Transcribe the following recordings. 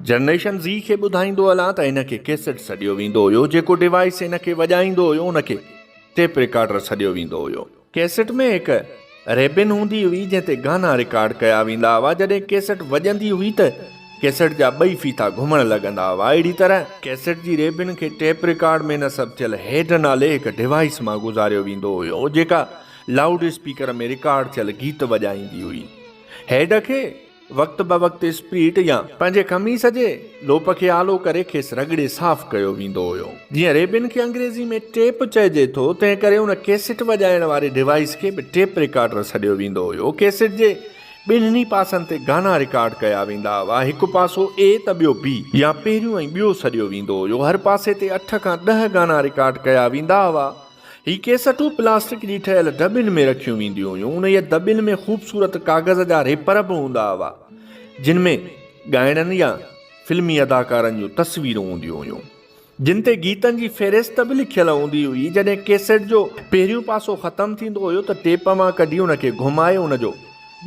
Generation Z کي ٻڌائيندو هلان ته ان کي ڪيسٽ سڏيو ويندو هيو، جيڪو ڊوائيس ان کي وڄائيندو هيو ان کي ٽيپ رڪارڊر سڏيو ويندو هيو. ڪيسٽ ۾ هڪ ريبن هوندي هئي جنهن تي گانا رڪارڊ ڪيا ويندا هئا، جڏهن ڪيسٽ وڄندي هئي ته ڪيسٽ جا ٻئي ڦيٿا گهمڻ لڳندا هئا، اهڙي طرح. ڪيسٽ جي ريبن کي ٽيپ رڪارڊ ۾ نصب ٿيل هيڊ نالي هڪ ڊوائيس مان گذاريو ويندو هيو، جيڪا لائوڊ اسپيڪر ۾ رڪارڊ ٿيل گيت وڄائيندي هئي. هيڊ کي. وقت بوقت اسپريٽ يا پنهنجي قميص جي لوپ کي آلو ڪري کيس رڳڙي صاف ڪيو ويندو هيو. جيئن ريبن کي انگريزي ۾ ٽيپ چئجي ٿو تنهن ڪري ان ڪيسٽ وڄائڻ واري ڊوائيس کي به ٽيپ رڪارڊر سڏيو ويندو هيو. ڪيسٽ جي ٻنهني پاسن تي گانا رڪارڊ ڪيا ويندا هئا. هڪ پاسو اي ته ٻيو بي يا پهريون ۽ ٻيو سڏيو ويندو هيو. هر پاسي تي اٺ کان ڏهه گانا رڪارڊ ڪيا ويندا هئا. هي ڪيسٽون پلاسٽڪ جي ٺهيل دٻين ۾ رکيون وينديون هيون. انهيء دٻين ۾ خوبصورت ڪاغذ جا ريپر به هوندا هئا، جن ۾ ڳائڻن يا فلمي اداڪارن جون تصويرون هونديون هيون، جن تي گيتن جي فهرست به لکيل هوندي هئي. جڏهن ڪيسٽ جو پهريون پاسو ختم ٿيندو هيو ته ٽيپ مان ڪڍي ان کي گهمائي ان جو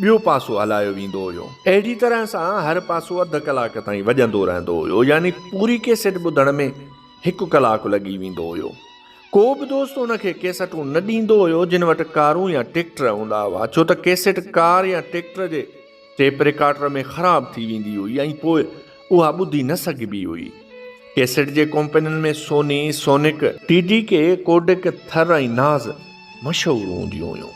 ٻيو پاسو هلايو ويندو هيو. اهڙي طرح سان هر پاسو اڌ ڪلاڪ تائين وڄندو رهندو هيو، يعني پوري ڪيسٽ ٻڌڻ ۾ هڪ ڪلاڪ لڳي ويندو هيو. ڪو به دوست ان کي ڪيسٽون نه ڏيندو هيو جن وٽ ڪارون يا ٽيڪٽر هوندا هئا ڇو ته ڪيسٽ ڪار يا ٽيڪٽر جي ٽيپ رڪارڊر ۾ خراب ٿي ويندي هئي ۽ پوء اها ٻڌي نه سگهبي هئي. ڪيسٽ جي ڪمپنين ۾ Sony, Sonic, T D K, Kodak, Thar ۽ Naz مشهور هونديون هيون.